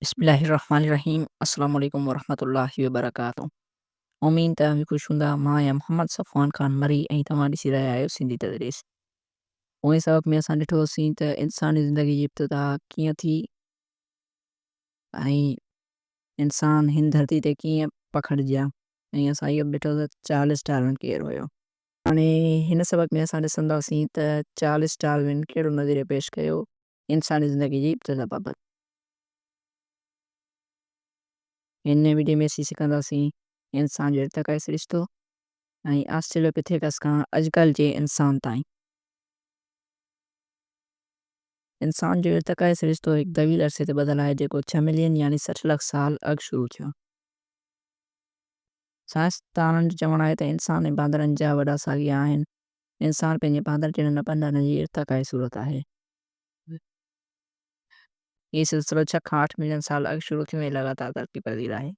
بسم الله الرحمن الرحيم السلام عليڪم ورحمة الله وبرڪاته امين ته اوهين خوش هوندا مان آهيان محمد صفوان خان مري ۽ توهان ڏسي رهيا آهيو سنڌي تدريس پوئين سبق ۾ اسان ڏٺو هوسين ته انساني زندگي جي ابتدا ڪيئن ٿي ۽ انسان هن ڌرتي تي ڪيئن پکڙجيا ۽ اسان اهو به ڏٺو ته چارلس ڊارون ڪير هيو هاڻي هن سبق ۾ اسان ڏسنداسين ته چارلس ڊارون ڪهڙو نظريو پيش ڪيو انساني زندگي جي ابتدا بابت. هن وڊيو ۾ اسين سکنداسين انسان جو ارتقائي سرشتو ۽ آسٽريلوپيٿيڪس کان اڄڪلهه جي انسان تائين. انسان جو ارتقائي سرشتو هڪ طويل عرصي تي ٻڌل آهي جيڪو ڇهه ملين يعني سٺ لک سال اڳ شروع ٿيو. سائنسدانن جو چوڻ آهي ته انسان ۽ باندرن جا وڏا ساڳيا آهن. انسان پنهنجي باندر جهڙن نبن ڏانهن جي ارتقائي صورت آهي. هي سلسلو ڇهه کان آٺ ملين سال اڳ شروع ٿيو ۽ لڳاتار ترقي پذير آهي.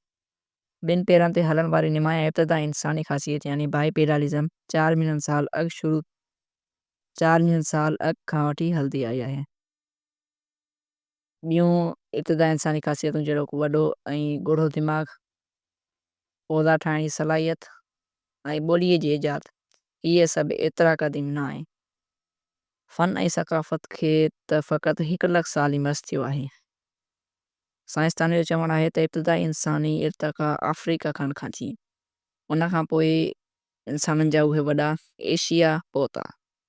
ٻن پيرن تي هلڻ واري نمايان ابتدائي انساني خاصيت يعني بائي پيڊالزم چار ملين سال اڳ شروع چار ملين سال اڳ کان وٺي هلندي آئي آهي. ٻيون ابتدائي انساني خاصيتون جهڙوڪ وڏو ۽ ڳوڙهو دماغ، اوزار ٺاهڻ جي صلاحيت ۽ ٻوليء جي ايجاد، اهي سڀ ايترا قديم نه آهن. فن ۽ ثقافت کي ته فقط هڪ لک سال ئي مس ٿيو آهي. سائنسدانن جو چوڻ آهي ته ابتدائي انساني ارتقا آفريڪا کنڊ کان ٿي، ان کان پوء انسانن جا اهي وڏا ايشيا پهتا.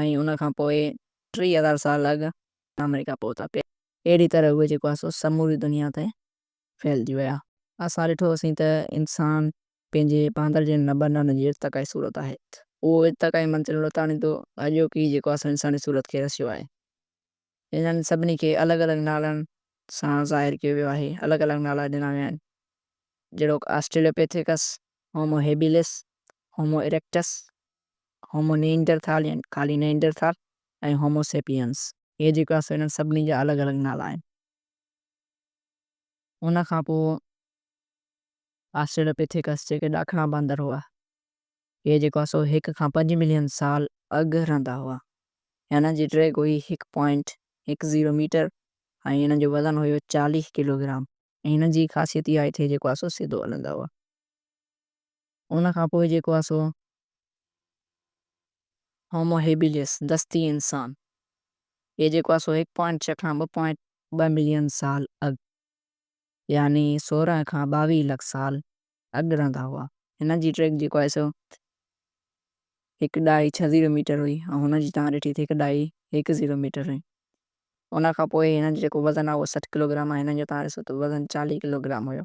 ۽ ان کان پوء ٽي هزار سال اڳ آمريڪا پهتا پي اهڙي طرح اهي جيڪو آهي سو سموري دنيا تي ڦهلجي ويا اسان ڏٺو هوسين ته انسان پنهنجي باندر جي نبنن جي ارتقائي صورت آهي اهو ارتقائي منزل لوتاڻي تو اڄوڪي جيڪو آهي سو انساني صورت کي رسيو آهي انهن سڀني کي الڳ الڳ نالن سان ظاهر ڪيو ويو آهي الڳ الڳ نالا ڏنا ويا آهن جهڙوڪ Australopithecus Homo habilis Homo erectus Homo Neanderthal يعني خالي نيئنڊرٿال ۽ هومو سيپيئنس. هي جيڪو آهي سو انهن سڀني جا الڳ الڳ نالا آهن. ان کان پوء آسٽريلوپيٿيڪس جيڪي ڏاکڻا باندر هئا، هي جيڪو آهي سو هڪ کان پنج ملين سال اڳ رهندا هئا ۽ انهن جي ڊيگهه هئي هڪ پوائنٽ هڪ زيرو ميٽر ۽ انهن جو وزن هيو چاليهه ڪلوگرام. ۽ انهن جي خاصيت اها آهي تھ هي جيڪو آهي سو سڌو هلندا هئا. ان کان پوء جيڪو آهي سو هومو هيبيليس، دستي انسان، هي جيڪو آهي سو هڪ پوائنٽ ڇهه کان ٻه پوائنٽ ٻه ملين سال اڳ يعني سورهن کان ٻاويهه لک سال اڳ رهندا هئا. هن جي ٽريڪ جيڪو آهي سو هڪ ڏهائي ڇهه زيرو ميٽر هئي ۽ هن جي توهان ڏٺي ته هڪ ڏهائي هڪ زيرو ميٽر هئي. ان کان پوء هنن جو جيڪو وزن آهي اهو سٺ ڪلوگرام آهي هنن جو توهان ڏسو ته وزن چاليهه ڪلوگرام هيو.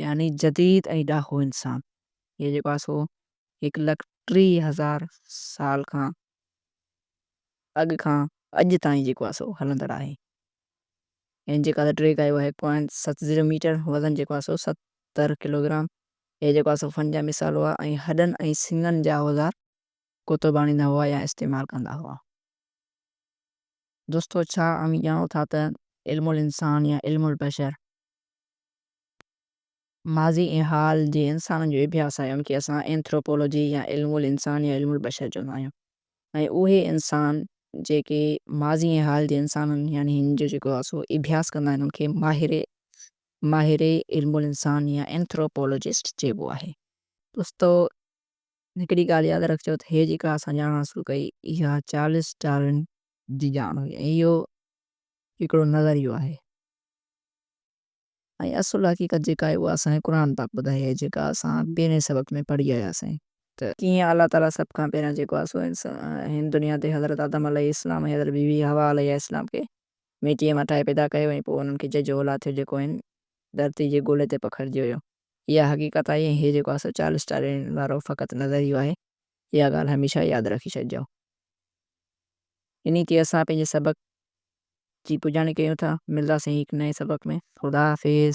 يعني جديد ۽ ڏاهو انسان هي جيڪو آهي سو هڪ لک ٽيهه هزار سال کان اڳ کان اڄ تائين جيڪو آهي سو هلندڙ آهي ۽ جيڪا ته ٽيڪ آهي اها هڪ پوائنٽ ست زيرو ميٽر وزن جيڪو آهي سو ستر ڪلوگرام هي جيڪو آهي سو فن جا مثال هئا ۽ هڏن ۽ سڱن جا اوزار ڪوتو ڀاڻيندا هئا يا استعمال ڪندا هئا. دوستو ڇا اوهين ڄاڻو ٿا ته علم الانسان يا علم البشر ماضي ۽ حال جي انسانن جو اڀياس آهي، ان کي اسان اينٿروپولوجي يا علم الانسان يا علم البشر چوندا آهيون ۽ اهي انسان جيڪي ماضي ۽ حال جي انسانن يعني هن جو جيڪو آهي سو اڀياس ڪندا آهن ان کي ماهر ماهر علم الانسان يا اينٿروپولوجسٽ چئبو آهي. دوستو هڪڙي ڳالهه ياد رکجو ته هي جيڪا اسان ڄاڻ حاصل ڪئي اها چارلس ڊارون جي ڄاڻ هئي ۽ اهو هڪڙو نظريو آهي. ۽ اصل حقيقت جيڪا آهي اها اسان کي قرآن پاڪ ٻڌائي آهي جيڪا اسان پهرين سبق ۾ پڙهي آيا سين ته ڪيئن الله تعاليٰ سڀ کان پهريان جيڪو آهي سو هن دنيا تي حضرت آدم عليه السلام ۽ حضرت بي بي حوا عليها السلام کي ميٽيء مان ٺاهي پيدا ڪيو ۽ پوء انهن کي جج اولاد ٿيو جيڪو هن ڌرتي جي گولي تي پکڙجي ويو. اها حقيقت آهي ۽ هي جيڪو آهي سو چارلس ڊارون وارو فقط نظريو آهي اها ڳالهه هميشه ياد رکي ڇڏجو. انهيء تي اسان پنهنجي سبق جي پڄاڻي ڪيون ٿا. ملنداسين هڪ نئين سبق ۾. خدا حافظ.